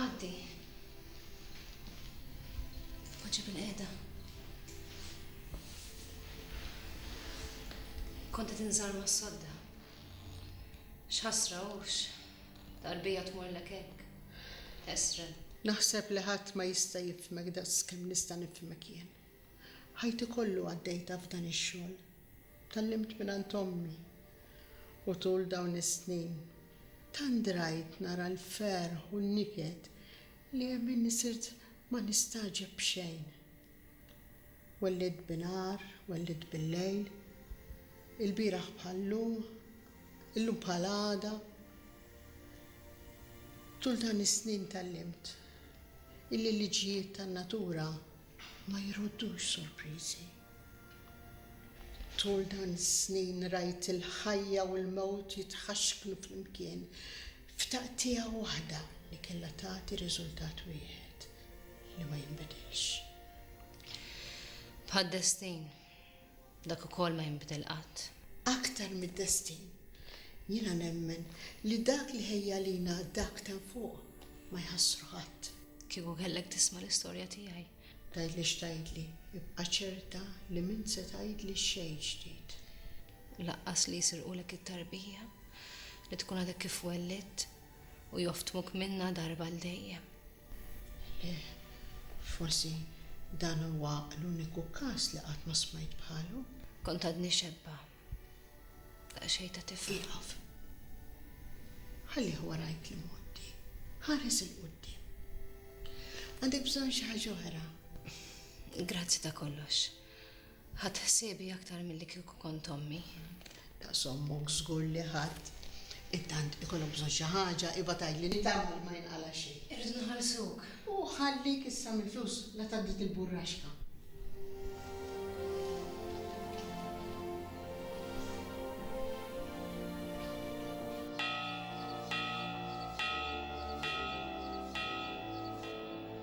Għaddi. Poġġi bil-qiegħda. Kont qed inżar mas-sodda. X'ħasra hux tarbija tmurlek hekk. Esren. Naħseb li ħadd ma jista' jifhmek daqskemm nista' nifhmek jien. Ħajti kollu għaddejtha f'dan ix-xogħol. Tgħallimt mingħand ommi u tul dawn is-snin tant drajt nara l-ferħ u n-niket li hemm inni sirt ma nistagħġeb b'xejn. Wellidt binhar, wellidt billejl, ilbieraħ bħal-lum, illum bħal għada. Tul dan is-snin tgħallimt illi l-liġijiet tan-natura ma jroddux sorpriżi. Tul dan is-snin rajt il-ħajja u l-mewt jitħaxknu flimkien f'taqtiegħa waħda li kellha tagħti riżultat wieħed li ma jinbidilx. Bħad-destin. Dak ukoll ma jinbidel qatt. Aktar mid-destin, jiena nemmen li dak li ħejja għalina Dak t'hemm fuq ma jħassru ħadd. Kieku kellek tisma' l-istorja tiegħi. Tgħidli x'tgħidli, ibqa' ċerta li m'int se tgħidli xejn ġdid. U laqqas li jsirqulek it-tarbija, li tkun għadek kif wellidt, u joftmuk minnha darba għal dejjem. Le, forsi dan huwa l-uniku każ li qatt ma smajt bħalu. Kont għadni xebba. Daqsxejn ta' tifel. Ieqaf. Ħallih wara jekk imgħoddi. Ħares 'il quddiem. Għandek bżonn xi ħaġa oħra? Grazzi ta' kollox. Ħadt ħsiebi aktar milli kieku kont ommi. Daqs ommok żgur li ħadd. Intant ikollok bżonn xi ħaġa, ibgħat għidli nittama li ma jinqala' xejn. Irridu nħallsuk. U ħallik issa mill-flus, la tgħaddi dik il-burraxka.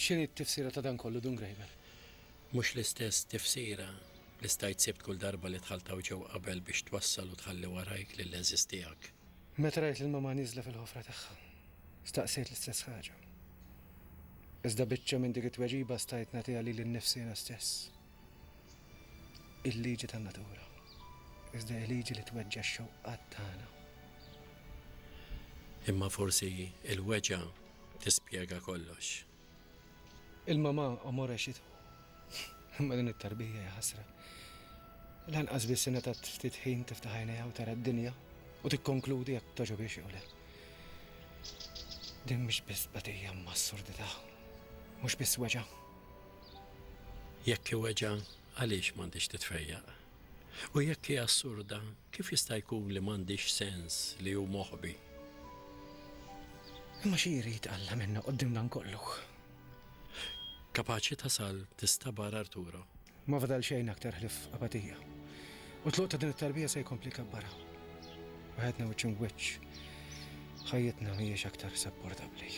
X'inhi t-tifsira ta' dan kollu, Dun Graeber? Mhux l-istess tifsira li stajt sibt kull darba li dħalt hawn ġewwa qabel biex twassal u tħalli warajk lill-għeżież tiegħek. Meta rajt lil Mamà nieżla fil-ħofra tagħha, staqsejt l-istess ħaġa. Iżda biċċa minn dik it-tweġiba stajt nagħtiha lili nnifsi jiena stess. il-liġi tan-natura, iżda hija liġi li tweġġa' x-xewqat tagħna. Imma forsi l-weġgħa tispjega kollox. Il-mamà omore xi tħu. Imma din it-tarbija hija ħasra. Lanqas biss ingħatat ftit ħin tiftaħ għajnejha u tara d-dinja u tikkonkludi jekk togħġobhiex jew le. Din mhix biss tbatija imma assurdità. Mhux biss weġgħa. Jekk iweġgħa, għaliex m'għandhiex titfejjaq? U jekk hi assurda, kif jista' jkun li m'għandhiex sens li hu moħbi? Imma xi jrid Alla minna quddiem dan kollu? Kapaċi tasal tista' bar Arturo Ma fadal xejn aktar ħlief apatija. U t-tluq ta' din it-tarbija se jkompli jkabbarha. Waħedna wiċċ im'wiċċ, ħajjitna mhijiex aktar sapportabbli.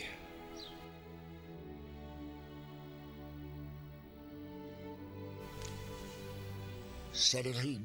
Sar il-ħin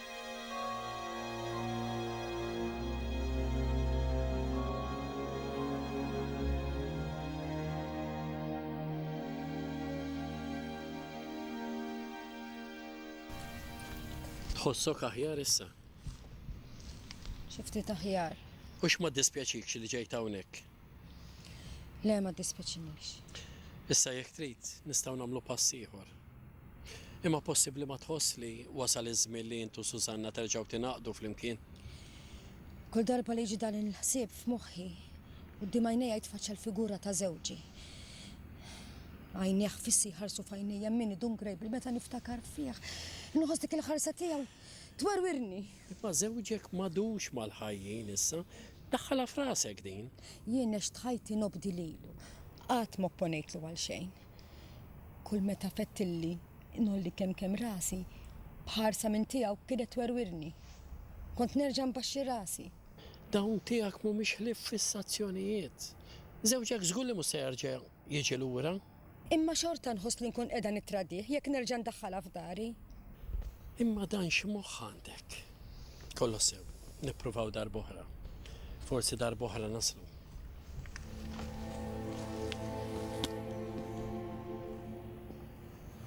Tħossok aħjar issa? Xi ftit aħjar. U x'ma ddispjaċikx li ġejt hawnhekk? Le, ma ddispeċinix. Issa jekk trid, nistgħu nagħmlu pass ieħor. Imma possibbli ma tħoss li wasal iż-żmien li int u Susanna terġgħu tingħaqdu flimkien? Kull darba li jiġi dan il-ħsieb f'moħħi, quddiem għajnejja jitfaċċa l-figura ta' żewġi. Għajnejh fissi jħarsu f'għajnejja minni Dun Grejbl meta niftakar fih. Inħoss dik il-ħarsa tiegħu twerwirni. Imma żewġek m'għadux mal-ħajjin issa. Daħħalha f'rasek din! Jien għext ħajti nobdi lilu. Qatt m'opponejtlu għal xejn. Kull meta fettilli ngħolli kemm kemm rasi, b'ħarsa minn tiegħu kienet twerwirni. Kont nerġa' nbaxxi rasi. Dawn tiegħek m'humiex ħlief fissazzjonijiet. Żewġek żgur li mhux se jerġa' jiġi lura. Imma xorta nħoss li nkun qiegħda nittradih jekk nerġa' ndaħħalha f'dari. Imma dan x'moħħ għandek? Kolossew, nippruvaw darb'oħra. Forsi darb'oħra naslu.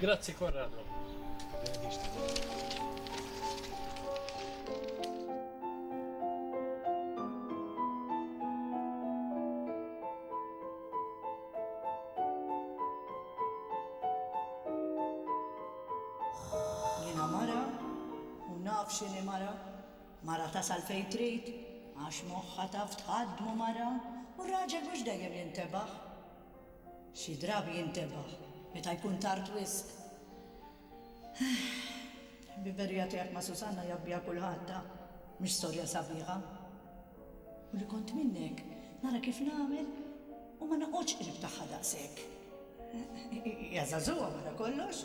Grazzi Corrado. Jena mara, u naf xini mara, mara tasal fej trid, għax moħħa taf tħaddmu mara, u r-raġel mhux dejjem jintebaħ. Xi drabi jintebaħ meta jkun tard wisq. Il-ħbiberija tiegħek ma' Susanna jaf biha kulħadd, ha? Mhix storja sabiħa. U li kont minnek, nara kif nagħmel u ma noqgħodx qrib tagħha daqshekk. Hija żagħżugħa wara kollox.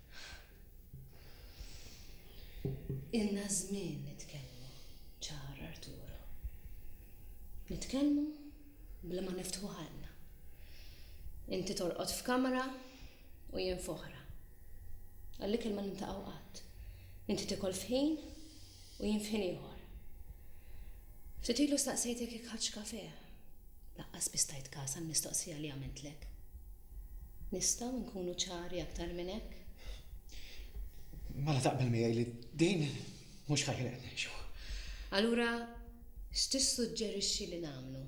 Ilna żmien nitkellmu ċar Arturo. Nitkellmu bla ma niftħu ħalqna. Inti torqod f'kamra u jien f'oħra. Għall-ikel ma niltaqgħu qatt. Inti tiekol f'ħin U jien f'ħin ieħor. Ftit ilu staqsejtek jekk ħadtx kafè. Lanqas biss tajt kas għall-mistoqsija li għamiltlek. Nistgħu nkunu ċari aktar minn hekk? Mela taqbel miegħi li din mhux ħajja li qed ngħixu. Allura x'tissuġġerixxi li nagħmlu?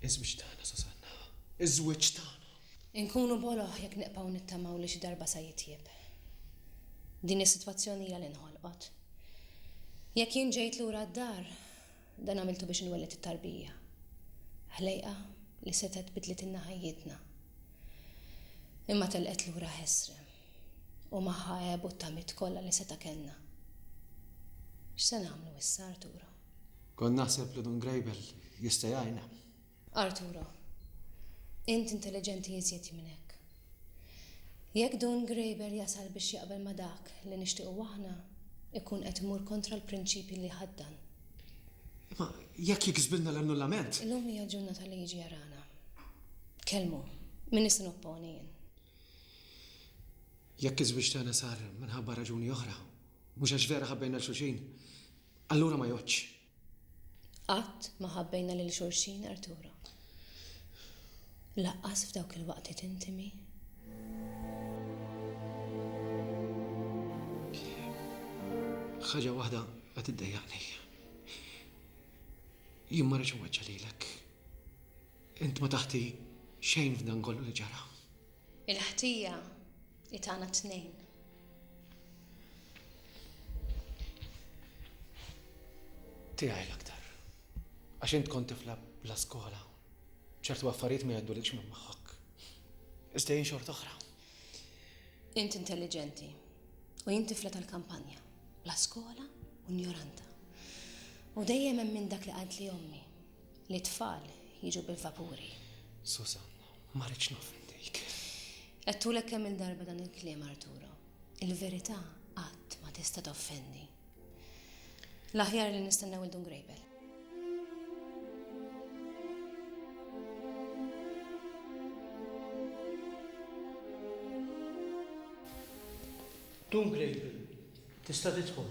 Iż-żwieġ tagħna, Susanna. Iż-żwieġ tagħna. Inkunu boloh jekk nibqgħu nittamaw li xi darba sa jitjieb. Din is-sitwazzjoni hija li nħolqot. Jekk jien ġejt lura d-dar, dan għamiltu biex inwelled it-tarbija. Ħlejqa li setgħet bidlitilna ħajjitna. Imma telqet lura ħesrem u magħha għebu t-tamiet kollha li seta' kellna. X'se nagħmlu issa, Arturo? Kont naħseb li Dun Grejbel jista' jgħinna. Arturo, int intelliġenti iżjed minn hekk. Jekk Dun Graeber jasal biex jaqbel ma' dak li nixtiequ aħna, ikun qed imur kontra l-prinċipji li jħaddan. Imma jekk jiksbilna l-annullament? Illum hija l-ġurnata li jiġi jarana. Kellmu, m'iniex se nopponi jien. Jekk iż-żwieġ tagħna sar minħabba raġuni oħra, mhux għax vera ħabbejna 'l xulxin, allura ma jgħoddx. Qatt ma ħabbejna lil xulxin, Arturo. Lanqas f'dawk il-waqtiet intimi. Ħaġa waħda qed iddejjaqni. Jien ma rridx inweġġa' lilek. Int ma taħti xejn f'dan kollu li ġara. Il-ħtija I tagħna t-tnejn. Tiegħi l-aktar. Għax int kont tifla bla skola. ċertu affarijiet ma jgħaddulikx minn moħħok. Iżda jien xorta oħra. Int intelligenti u jien tifla tal-kampanja, bla skola u njoranta. U dejjem hemm minn dak li qalt li ommi, Li t-tfal jiġu bil-vapuri. Susan, ma rridx noffendik. Għedtulek kemm-il darba dan il-kliem, Arturo. Il-verità qatt ma tista' toffendi. L-aħjar li nistennew il-Dun Grejbel. Dun Grejbel, tista' tidħol.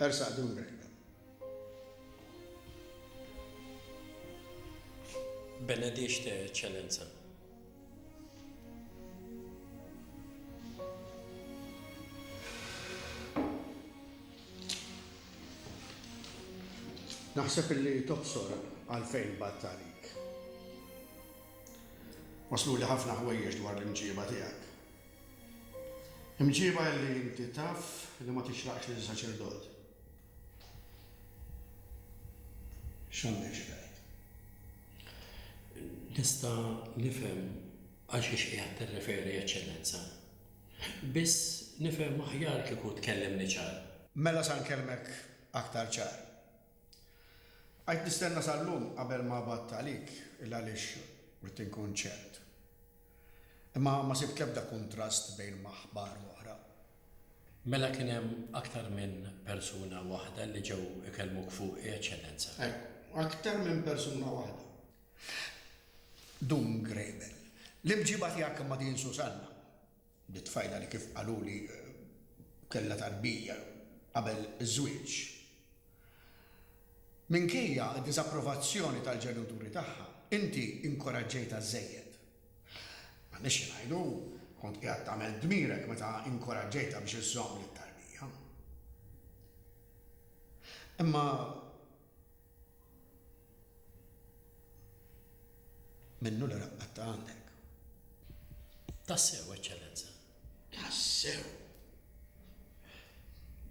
Ersaq dun Grega. Benedixte Eċċellenza. Naħseb illi tobsor għalfejn batt għalik. Waslu li ħafna ħwejjeġ dwar l-imġieba tiegħek. Imġiba illi inti taf li ma tixraqx lil saċerdot. X'għandek xi tgħid? Nista' nifhem għal xiex qiegħed tirreferi, Eċċellenza. Biss nifhem aħjar kieku tkellimni ċar. Mela sa nkellmek aktar ċar. Bqajt nistenna sal-lum qabel ma għabadt għalik il-għaliex ridt inkun ċert. Imma ma sibt l-ebda kuntrast bejn ma' aħbar u oħra. Mela kien hemm aktar minn persuna waħda li ġew ikellmuk fuqi, Eċċellenza? Ejw, aktar minn persuna waħda. Dun Graybell, l-imġiba tiegħek ma' din Susanna Di t-tfajla li kif qaluli kellha tarbija qabel iż-żwieġ. Minkejja d-diżapprovazzjoni tal-ġenituri tagħha, inti inkoraġġejtha żżejjed. M'għandniex xi ngħidu, kont qiegħed tagħmel dmirek meta inkoraġġejtha biex iżżomm lit-tarbija. Imma Minnu li raqqat ta' għandek. Tassew, Eċċellenza. Tassew!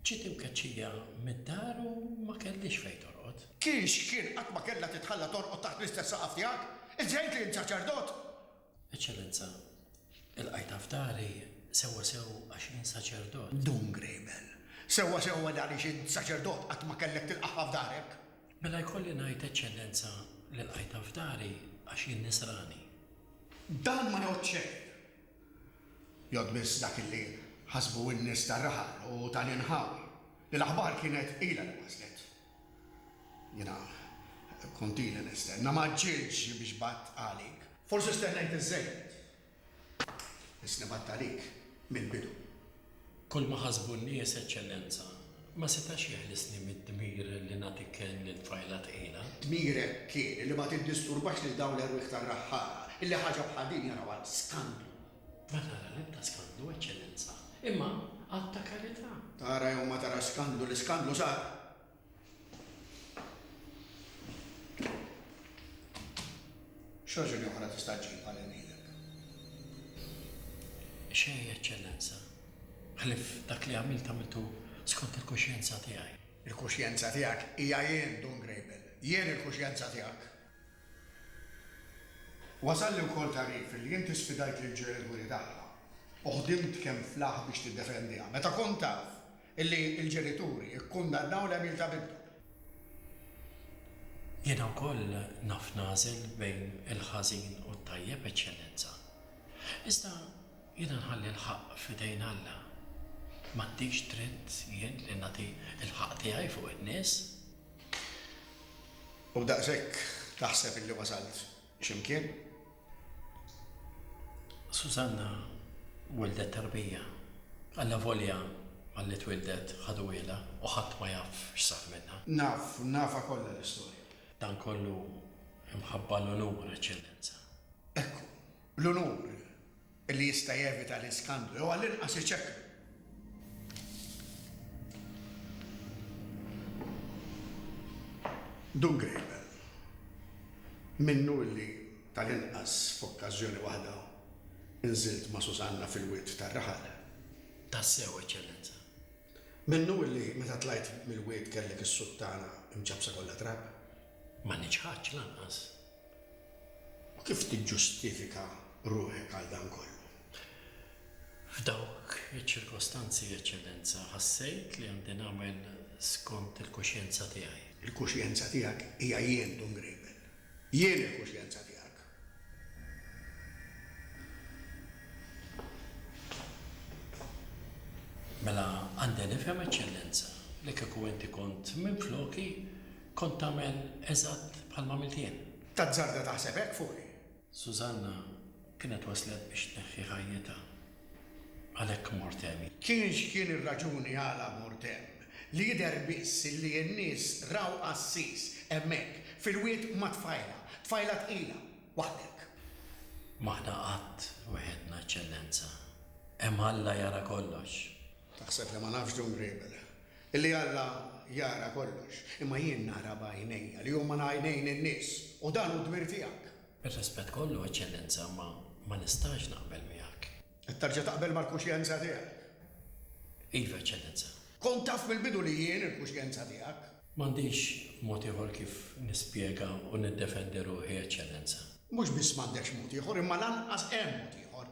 Ġiet imkeċċija mid-dar u ma kellhiex fejn torqod. Kiex kien qatt ma kellha titħalla torqod taħt l-istess saqaf tiegħek? Insejt li int saċerdot? Eċċellenza, ilqajtha f'dari sewwa sew għax int saċerdot. Dun Grejbel, sewwa sewwa dan għaliex int saċerdot qatt ma kellek tilqagħha f'darek. Mela jkolli ngħid Eċċellenza li lqajtha f'dari għax jien Nisrani. Dan ma jgħodd xejn. Jgħodd biss dak li ħasbu n-nies tar-raħal u tal-inħawi li l-aħbar kienet ilha li waslet. Jiena kont ili nistenna, ma ġġiltx biex batt għalik. Forsi stennejt iż-żejjed. Biss li batt għalik mill-bidu. Kulma ħasbu n-nies, Eċċellenza, ma setax jeħlisni mid-dmir li nagħti kenn lil tfajla tqila. Dmirek kien li ma tiddisturbax lil dawn l-erwieħ tar-raħħala, illi ħaġa bħal din jarawha skandlu. Ma tara l-ebda skandlu, Eċċellenza, imma att ta' karità. Tara jew ma tarax skandlu, l-iskandlu sar. X'raġuni oħra tista' ġġib għal irmiedek? Xejn, Eċċellenza, ħlief dak li għamilt għamiltu skont il-kuxjenza tiegħi. Il-kuxjenza tiegħek hija jien, Dun Grejbel. Jien il-kuxjenza tiegħek. Wasalni wkoll tagħrif li inti sfidajt lil Joel Guri tagħha u ħdimt kemm flah biex tiddefendiha meta kont taf li l-ġenituri kkundannaw l-għemil ta' binthom. Jiena wkoll naf nagħżel bejn il-ħażin u t-tajjeb, Eċċellenza. Iżda jiena nħalli l-ħaqq f'idejn Alla. M'għandix dritt jien li nagħti l-ħaqq tiegħi fuq in-nies. U daqshekk taħseb illi wasalt x'imkien? Susanna wildhet tarbija. Allavolja malli twildet ħaduhielha u ħadd ma jaf x'sar minnha. Naf, nafha kollha l-istorja. Dan kollu mħabba l-unur, Eċċellenza. Ekku, l-unur! li jista' jevita l-iskandlu jew għall-inqas iċekklu. Dun Grable, minnu li tal-inqas f'okkażjoni waħda nżilt ma' Susanna fil-wied tar-raħal. Tassew, Eċċellenza. Minnu li meta tlajt mill-wied kellek is-suttana mċappsa kollha trab. Ma niċħadx lanqas. U kif tiġġustifika ruħek għal dan kollu? F'dawk iċ-ċirkostanzi, Eċċellenza, ħassejt li għandi nagħmel skont il-kuxjenza tiegħi. Il-kuxjenza tiegħek hija jien, Dun Grejben. Jien il-kuxjenza tiegħek. Mela għandi nifhem, Eċċellenza, li kieku inti kont minfloki kont tagħmel eżatt bħalma għamilt jien? Tazzarda taħseb hekk fuqi? Susanna kienet waslet biex tneħħi ħajjitha. Għalhekk mort hemm. Kien x'kien ir-raġuni għala mort hemm, li jidher biss illi n-nies raw qassis hemmhekk, fil-wied ma' tfajla, tfajla tqila, waħdek. M'aħna qatt weħedna, Eċċellenza. Hemm Alla jara kollox. Taħseb li ma nafx Dun Griebel, illi Alla jara kollox, imma jien nara b'għajnejja li huma għajnejn in-nies, u dan hu d-dmir tiegħek. Bir-rispett kollu, Eċċellenza, ma ma nistax naqbel miegħek. Qed terġa' taqbel mal-kuxjenza tiegħek? Iva, Eċċellenza. Kont taf mill-bidu li jien il-kuxjenza tiegħek. M'għandix mod ieħor kif nispjega u niddefendi ruħi, Eċċellenza. Mhux biss m'għandekx mod ieħor, imma lanqas hemm mod ieħor.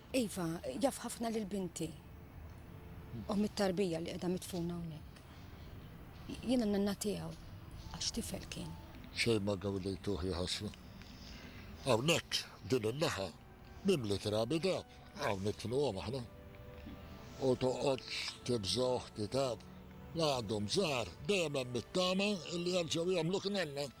Iva, jaf ħafna lil binti. U mit-tarbija li qiegħda mitfuna hawnhekk. Jiena n-nanna tiegħu għax tifel kien. Xejn ma gawdejtuh jħosslu. Hawnhekk din in-naħa mimli trabi dab, hawn nitluhom aħna. U toqgħodx tibżgħuh kitab. La għadhom żgħar dejjem hemm it-tama li jerġgħu jagħmluk nanna.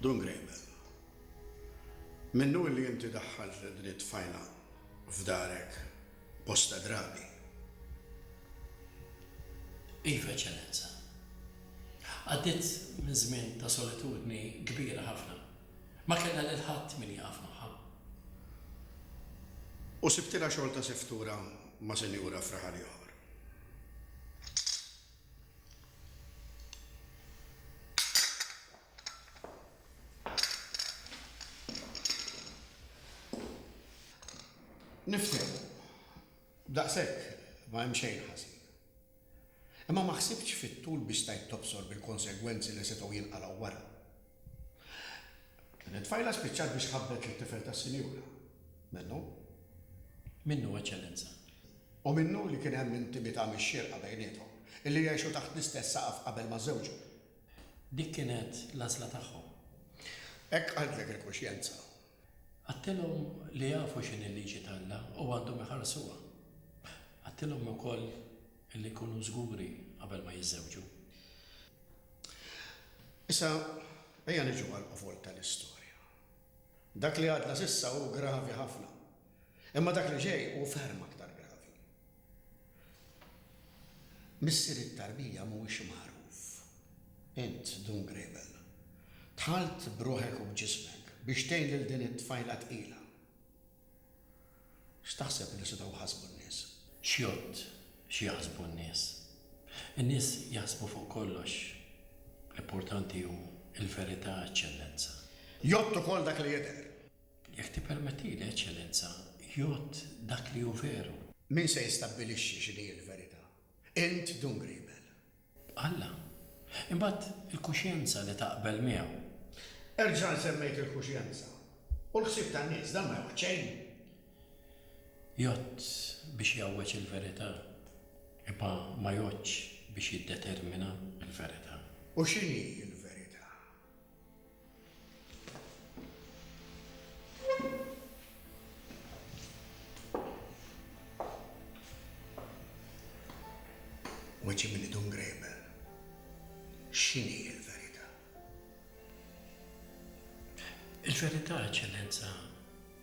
Dun Grejbel, minnu illi inti daħħalt lil din it-tfajla f'darek bosta drabi? Iva, Eċċellenza. Għaddiet minn żmien ta' solitudni kbira ħafna. Ma kellha lil ħadd min jaqaf magħha. U sibtilha xogħol ta' seftura ma' sinjura f'raħal ieħor? Nifhem, daqshekk ma hemm xejn ħażin. Imma ma ħsibtx fit-tul biex stajt tobsor bil-konsegwenzi li setgħu jinqalgħu wara. Din it-tfajla spiċċat biex ħabbet lit-tifel tas-Sinjura. Minnu? Minnu, Eċċellenza. U minnu li kien hemm intimità mix-xierqa bejniethom, illi għexu taħt l-istess saqaf qabel ma żżewġu. Dik kienet l-għażla tagħhom. Hekk qaltlek il-kuxjenza. Għadtilhom li jafu x'inhi l-liġi t'Alla u għandhom iħarsuha. Għadtilhom ukoll. Li jkunu żguri qabel ma jiżżewġu. Issa, ejja niġu għall-qofol tal-istorja. Dak li għadna s'issa hu gravi ħafna, imma dak li ġej hu ferm aktar gravi. Missier it-tarbija mhuwiex magħruf. Int, Dun Grebel, dħalt b'ruħek u b'ġismek biex tgħin lil din it-tfajla tqila. X'taħseb li setgħu jħassbu n-nies? Xjott xi jaħsbu n-nies? In-nies jaħsbu fuq kollox. L-importanti hu l-verità, Eċċellenza. Jgħodd ukoll dak li jidher. Jekk tippermettili, Eċċellenza, jgħodd dak li hu veru. Min se jistabbilixxi x'inhi l-verità? Int, Dun Griebel. Alla. Imbagħad il-kuxjenza li taqbel miegħu. Erġa' nsemmejk il-kuxjenza. U l-ħsieb tan-nies, dan ma jgħodd xejn. Jgħodd biex jgħawweġ il-verità, imma ma jgħoddx biex jiddetermina l-verità. U x'inhi l-verità? Weċi minn idum grejbel. X'inhi l-verità? Il-verità, Eċċellenza,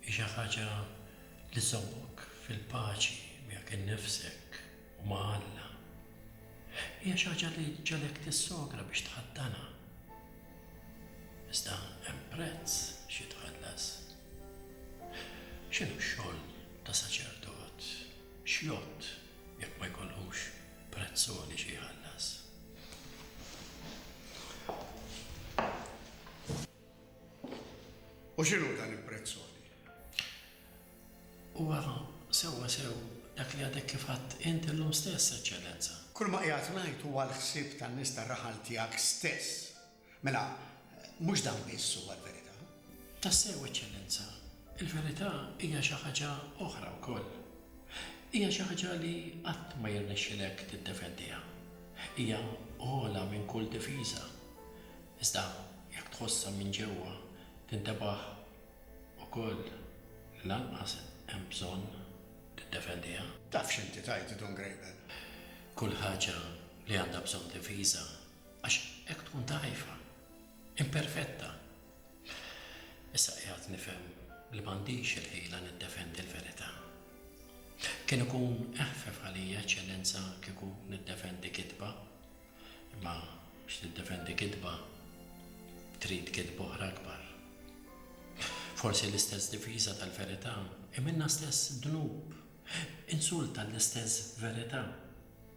hi xi ħaġa li żżommok fil-paċi miegħek innifsek. u ma' Alla, hija xi ħaġa li ġġegħlek tissogra biex tħaddanha. Iżda hemm prezz xi jitħallas. X'inhu x-xogħol ta' saċerdot? X'jgħodd jekk ma jkollhux prezz għoli xi jħallas? U x'inhu dan il-prezz għoli? U għafa, sewwasew, dak li għadek kif għidt int illum stess, Eċċellenza. Kulma qiegħed ngħid huwa l-ħsieb tan-nies tar-raħal tiegħek stess. Mela, mhux dan biss huwa l-verità. Tassew, Eċċellenza, il-verità hija xi ħaġa oħra wkoll. Hija xi ħaġa li qatt ma jirnexxilek tiddefendiha. Hija ogħla minn kull difiża. Iżda, jekk tħossha minn ġewwa, tintebaħ ukoll lanqas hemm bżonn tiddefendiha. Taf x'inti tgħid Dun Grejben. Kull ħaġa li għandha bżonn difiża għax hekk tkun dgħajfa, imperfetta. Issa qiegħed nifhem li m'għandix il-ħila niddefendi l-verità. Kien ikun eħfef għalija Eċċellenza kieku niddefendi kitba. Imma biex tiddefendi kitba trid kitba oħra akbar. Forsi l-istess difiża tal-verità hi minnha stess dnub, insult għall-istess verità.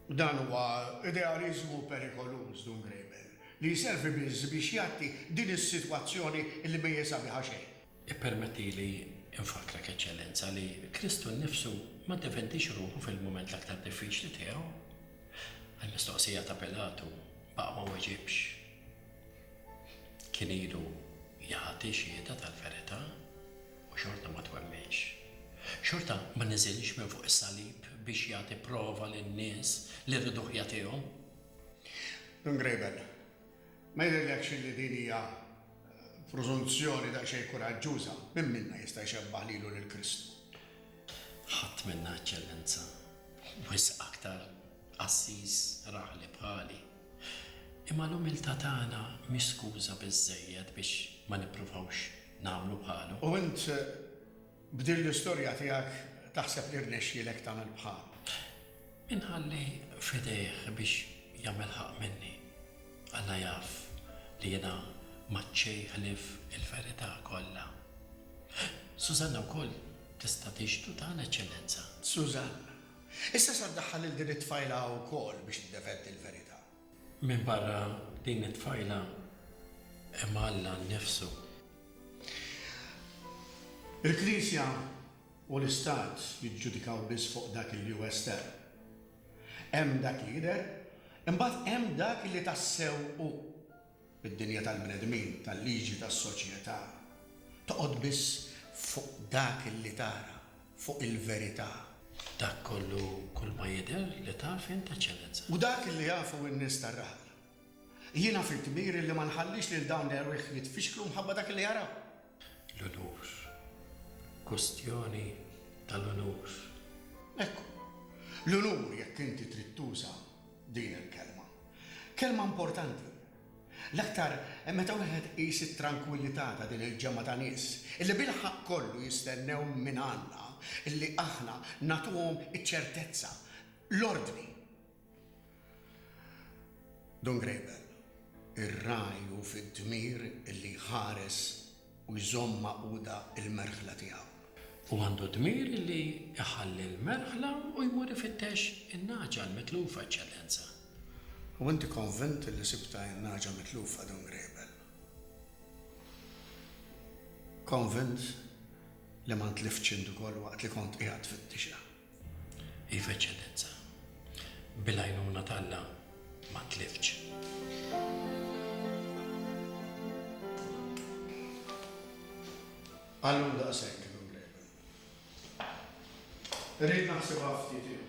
Dan huwa idealiżmu perikoluż, Dun Graeber, li jservi biss biex jgħatti din is-sitwazzjoni li mejjesa biha xejn. Ippermettili nfakkrek, Eċċellenza, li Kristu nnifsu ma ddefendiex ruħu fil-mument l-aktar diffiċli tiegħu. Għall-mistoqsija ta' Pilatu baqa' ma weġibx. Kien ilu jagħti xhieda tal-verità u xorta ma twemminx. Xorta ma niżilx minn fuq is-salib biex jagħti prova lin-nies li rriduh jagħtihom. Dun Grabel, ma jidhirlekx li din hija Preżunzjoni daqsxejn kuraġġuża, min minna jista' jxebbah lilu lil Kristu? Ħadd minna, Eċċellenza. Wisq aktar qassis raħli bħali. Imma l-umiltà tagħna mhix skuża biżżejjed biex ma nippruvawx nagħmlu bħalu. U int B'din l-istorja tiegħek taħseb li rnexxielek tagħmel bħalu? Inħalli f'idejh biex jagħmel ħaqq minni. Alla jaf li jiena m'għadt xejn ħlief il-verità kollha. Susanna wkoll tista' tixhdu dan, Eċċellenza. Susanna, Issa sa ddaħħal lil din it-tfajla hawn ukoll biex tiddefendi l-verità? Minbarra din it-tfajla hemm Alla nnifsu. Il-Knisja u l-Istat jiġġudikaw biss fuq dak li hu estern. Hemm dak li jidher, imbagħad hemm dak li tassew hu. Id-dinja tal-bnedmin, tal-liġi, tas-soċjetà, toqgħod biss fuq dak li tara, fuq il-verità. Dak kollu kulma jidher li taf int, Eċċellenza. U dak li jafu n-nies tar-raħal. Jiena fi dmiri li ma nħallix lil dawn l-erwieħ jitfixklu mħabba dak li jaraw. L-unur. Kwistjoni tal-unur. Ekku. L-unur, jekk inti trid tuża. Din il-kelma. Kelma importanti. L-aktar meta wieħed iqis it-trankwillità ta' din il-ġemgħa ta' nies illi bil-ħaqq kollu jistennew mingħandna illi aħna nagħtuhom iċ-ċertezza, l-ordni. Dun Grejbel, ir-ragħaj hu fid-dmir illi jħares u jżomm magħquda l-merħla tiegħu. Hu għandu d-dmir li jħalli l-merħla u jmur ifittex in-nagħġa l-mitlufa, Eċċellenza. U inti konvint li sibtha in-nagħġa mitlufa, Dun Grejbel? Konvint li ma ntliftx int ukoll waqt li kont qiegħed tfittixha? Iva, Eċċellenza. Bil-għajnuna t'Alla ma tliftx. Għallum daqshekk, Dun Graham. Irrid naħsibha ftit ieħor.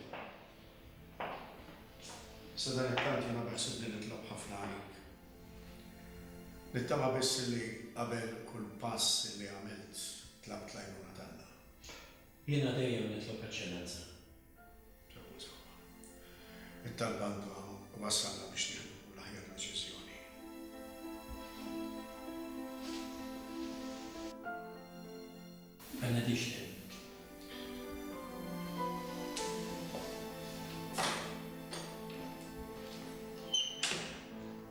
Sadanittant jiena beħsibni nitlob ħafna għalik. Nittama biss li qabel kull pass li għamilt tlabt l-għajnuna t'Alla. Jiena dejjem nitlob eċċellenza. Ġabru sħabha. It-talb għandu jwassalna biex nieħdu l-aħjar deċiżjoni. Benediction.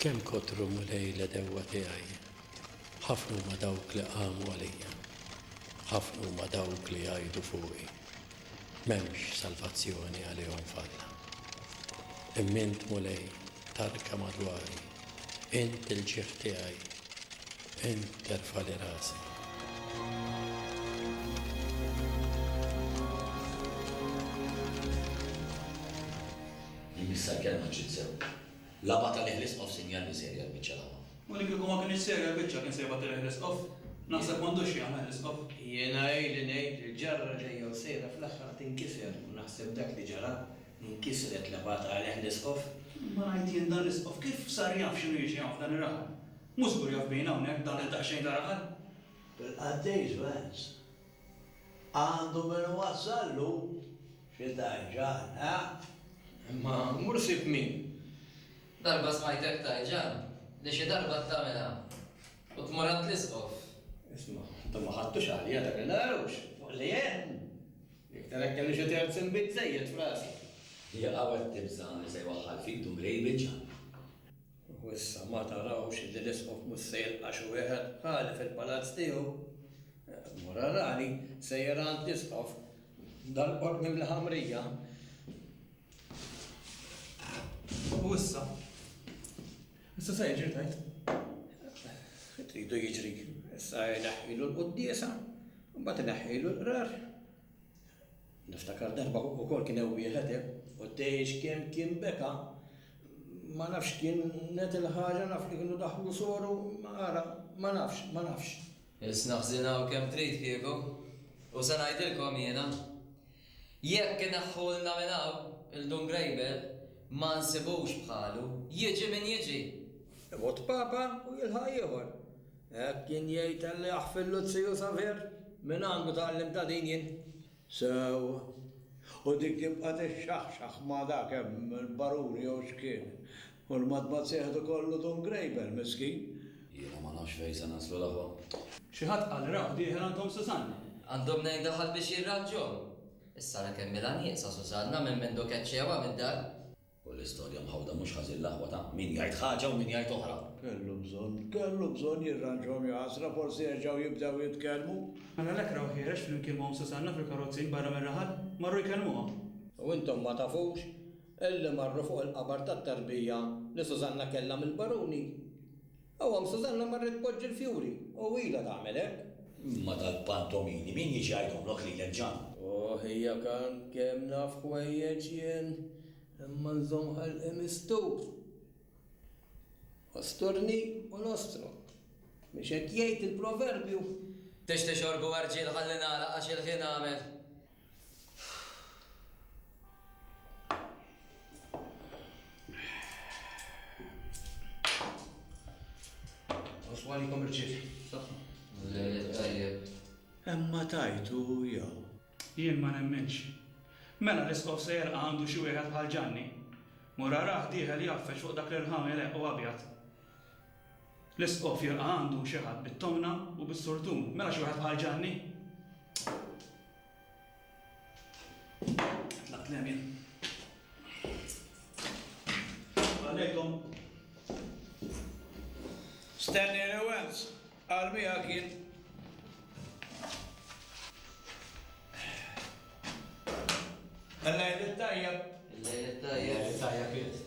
Kemm kotru mulej l dewwa tiegħi, ħafna ma dawk li qamu għalija, ħafna ma dawk li jgħidu fuqi, M'hemmx salvazzjoni għalihom f'Alla. Imma int, Mulej, tarka madwari, int il-ġieħ tiegħi, int terfagħli rasi. Jien issa l-kelma ġġiet sew. L-Għaba tal-Iħles Qoff Sinjali Serja l-Biċċa l-Għaba. U li kieku ma kinitx serja l-biċċa kien se jbati l-Iħles Qoff? Naħseb m'għandux x'jagħna l-Iħles Qoff. Jiena ili ngħid li l-ġarra ġejja u sejra fl-aħħar tinkiser u naħseb dak li ġara, inkisret l-Għaba tal-Iħles Qoff. Imma ngħid jien dan l-Iħles Qoff kif sar jaf x'inhu jiġri hawn f'dan ir-raħal? Mhu żgur jaf bina hawnhekk dan li daqsxejn ta' raħal? Bil-Qaddejs Vance Għandu min iwassallu xi tajġan, eh? Imma mur sib min. Darba smajtek tajġan li xi darba t-tagħmilha u tmur għand l-Isqof. Isma', intom ma ħadtux għalija dan il-għarux fuq li għedt? Iktar hekk kelli xi terz inbid żejjed f'rasi. Hija qawwet tibża' li se jwaħħal fid-dum li jbiċċa. U issa ma tarawx illi l-Isqof mhux se jilqa' xi wieħed bħali fil-palazz tiegħu? Mura rani sejjer għand l-Isqof dal-qorq mimli ħamrija. U issa? Issa se jiġri tgħid? Tridu jiġri, issa jneħħilu l-quddiesa, mbagħad ineħħilu l-qrar. Niftakar darba ukoll kien hemm wieħed għeb u tgħix kemm kien beka. Ma nafx kienet il-ħaġa naf li kienu daħlu soru ara ma nafx, ma nafx. Biss naħżinaw kemm trid kieku. U se ngħidilkom jiena. Jekk ineħħulna minn hawn 'il Dun Grejbel ma nsibux bħalu, jiġi min jiġi. Imut Papa u jilħaq ieħor. Hekk kien jgħid Ellieħ fil-Luziju Savier, mingħandu tgħallimt ta' din jien. Sew. U dik tibqa' tixxaħxaħ ma' dak hemm il-baruni jew x'kien. U l-matmat se jieħdu kollu Dun Grejbel, miskin. Jiena ma nafx fejn se naslu l-aħwa. Xi ħadd qal li raw dieħel għand omm Susanna. Għandhom nejn daħal biex jirranġhom. Is-sara kemm ilha nieqsa Susanna minn mindu keċċewha mid-dar. U l-istorja mħawda mhux ħażin l-aħwa ta' min jgħid ħaġa u min jgħid oħra. Kellu bżonn, kellu bżonn jirranġhom jaqasra forsi jerġgħu jibdew jitkellmu. Mela l-ekra u ħierex flimkien ma' omm Susanna fil-karrozzin barra mir-raħal, marru jkellmuha. U intom ma tafux illi marru fuq il-qabar tat-tarbija li Susanna kellha mill-Baruni? Hawn hawn Susanna marret tpoġġi l-fjuri u ilha tagħmel hekk. Imma dal-pantomini min jiġi jgħidhomlok lilek Ġann? Ohh hija kan kemm naf ħwejjeġ jien imma nżomm ħalqi mistur. Osturni u nostro. Mhux hekk jgħid il-proverbju? Tixtieq xorb u għarġiel ħalli nagħlaq għax il-ħin għamel. Oswani kom irċiet. Emma tajtu jew. Jien ma nemminx. Mela l-iskof se jerqa' għandu xi wieħed bħal Ġanni? Mura rah dieħel jgħaffeġ fuq dak l-irħam eleq u abjad. L-Isqof jilqa' għandu xi ħadd bit-tomna u bis-surtun. Mela xi wieħed bħal Ġanni? Tlaqt l-hemm jien. Għallejkom. Stanley Lewens, qal miegħek jien. Illejl it-tajjeb. Illejl it-tajjeb. Illejl it-tajjeb jien.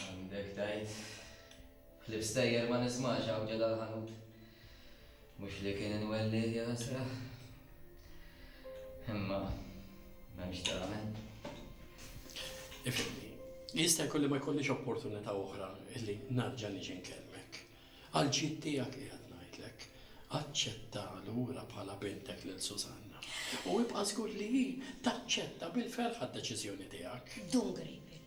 Għandek tgħid. Ħlief stejjer ma nismax hawn ġo dal-ħanut. Mhux li kien inwellih, ja ħasra. Imma m'hemmx tagħmel. Ifhimni, jista' jkun li ma jkollix opportunità oħra li nerġa' niġi nkellmek. Għall-ġid tiegħek qiegħed ngħidlek, aċċetta lura bħala bintek lil Susanna. U ibqa' żgur li hi taċċetta bil-ferħa d-deċiżjoni tiegħek. Dun Grejpil,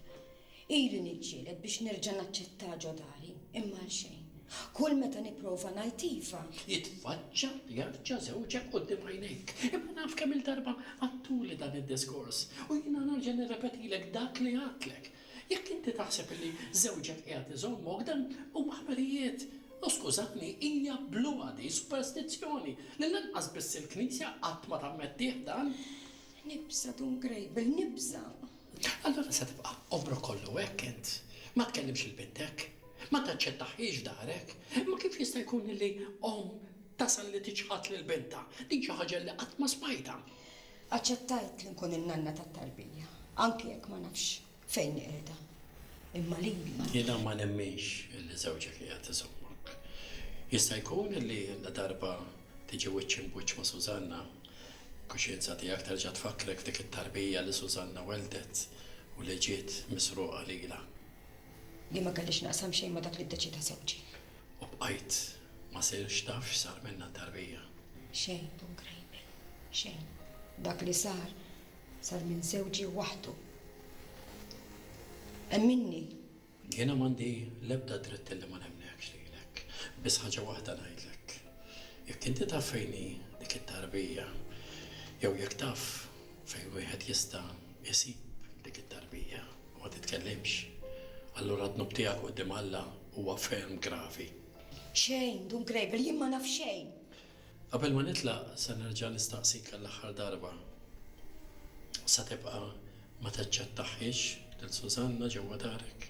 ili niġġieled biex nerġa' naċċettah ġo dari, imma għal xejn. Kull meta nipprova ngħid iva. Jitfaċċa jarġa' żewġek quddiem għajnejk. Imma naf kemm-il darba għadtuli dan id-diskors u jiena nerġa' nirrepetilek dak li għadtlek. Jekk inti taħseb li żewġek qiegħed iżommok, dan huma ħbarijiet. U skużani, hija bluha din, superstizzjoni, li lanqas biss il-Knisja qatt ma tammettih dan. Nibża' Dun Grejbel, nibża'! Allura se tibqa' għomrok kollu hekk int? Ma tkellimx lil bintek? Ma taċċettahiex darek? Imma kif jista' jkun li omm tasal li tiċħad lil bintha? Din xi ħaġa li qatt ma smajtha. Aċċettajt li nkun in-nanna tat-tarbija, anki jekk ma nafx fejn hi qiegħda. Imma lili. Jiena ma nemminx li żewġek qiegħed iżommok. Jista' jkun li ladarba tiġi wiċċ imbuċċ ma' Sużanna, il-kuxjenza tiegħek terġa' tfakkrek f'dik it-tarbija li Sużanna welldet u li ġiet misruqa lilha. Li ma kellix naqsam xejn ma' dak li ddeċieda żewġi. U bqajt ma sirx taf x'sar minnha t-tarbija. Xejn, Dun Grejbel, xejn. Dak li sar, sar minn żewġi waħdu. Emminni! Jiena m'għandi l-ebda dritt illi ma nemmnekx lilek. Biss ħaġa waħda ngħidlek. Jekk inti taf fejn hi dik it-tarbija, jew jekk taf fejn wieħed jista' jsib dik it-tarbija, ma titkellimx. Allura d-dnub tiegħek quddiem Alla Huwa ferm gravi. Xejn, Dun Gravel, jien ma naf xejn! Qabel ma nitlaq, se nerġa' nistaqsik għall-aħħar darba. Se tibqa' ma taċċettahhiex lil Susanna ġewwa darek?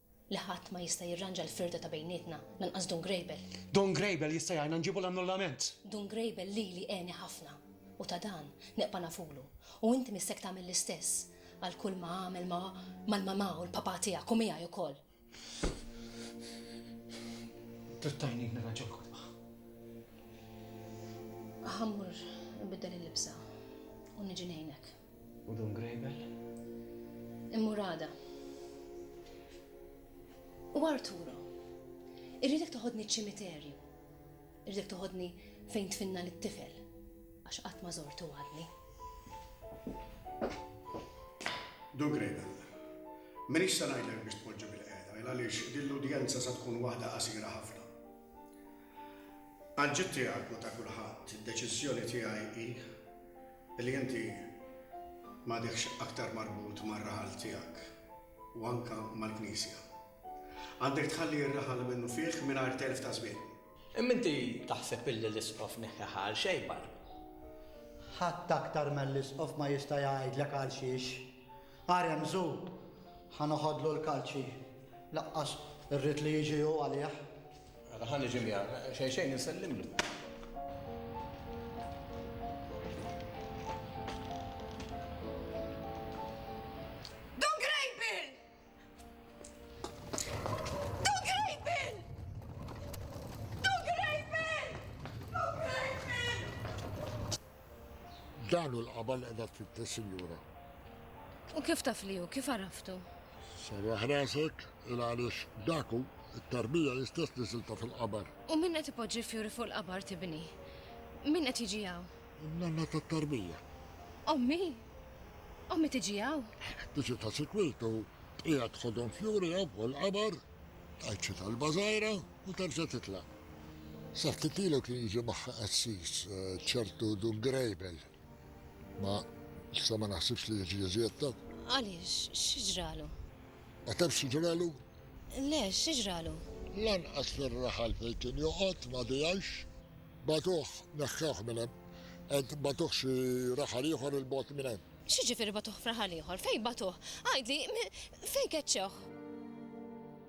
li ħadd ma jista' jirranġa l-firda ta' bejnietna, lanqas Dun Grejbel. Dun Grejbel jista' jgħinna nġibu l-annullament! Dun Grejbel lili għeni ħafna, u ta' dan neqpa' nafulu, u inti missek tagħmel l-istess għal kull ma għamel ma' mal-mamà u l-papà tiegħek u miegħi ukoll. Trid tgħinni nirranġa l-kotba? Ħa mmur inbiddel il-libsa u niġi ngħinek. U Dun Grejbel? Immur għada. U Arturo, irridek toħodni ċ-ċimiterju. Irridek toħodni fejn tfinna lit-tifel, għax qatt ma żortu għadni. Dun Grejbel, m'iniex se ngħidlek biex tpoġġi bil-qiegħda, il għaliex din l-udjenza sa tkun waħda qasira ħafna. Għal ġid tiegħek u ta' kulħadd, id-deċiżjoni tiegħi hi Li inti m'għadekx aktar marbut mar-raħal tiegħek u anke mal-Knisja. Għandek tħalli r-raħal li minnufih mingħajr telf ta' żmien. Imma inti taħseb illi l-Isqof neħħeha għal xejbar? Ħadd aktar mill-Isqof ma jista' jgħidlek għalxiex. Agħar hemm żu, ħa noħodlu l-kalċi. Lanqas irrid li jiġi hu għalih. Mela ħa niġi miegħek, xejn xejn insellimlu. Dan hu l-qaba li qiegħda tfittex, sinjura. U kif taf li hu? Kif għaraftu? Sarraħ rasek, il għaliex dak hu, it-tarbija hi stess li siltha fil-qabar. U min qed ipoġġi l-fjuri fuq il-qabar tibni? Min qed jiġi hawn? In-nanna tat-tarbija. Ommi? Ommi tiġi hawn? Biex hi ta' sikwit u tqiegħed tħodhom fjuri hawn fuq il-qabar, tgħid xi talba żgħira. U terġa' titlaq. Sa ftit ilu kien jiġi magħha qassis, ċertu Dun Greibel. Ma issa ma naħsibx li jiġi iżjed ta'. Għaliex, xi ġralu? Ma tafx xi ġralu? Le, xi ġralu? Lanqas fir-raħal fejn kien joqgħod ma dehajx. Bagħtuh, neħħewh minn hemm. Qed bagħtuh xi raħal ieħor 'il bogħod minn hemm. X'jiġifieri bagħtuh f'raħal ieħor? Fejn bagħtuh? Għidli, fejn keċċewh?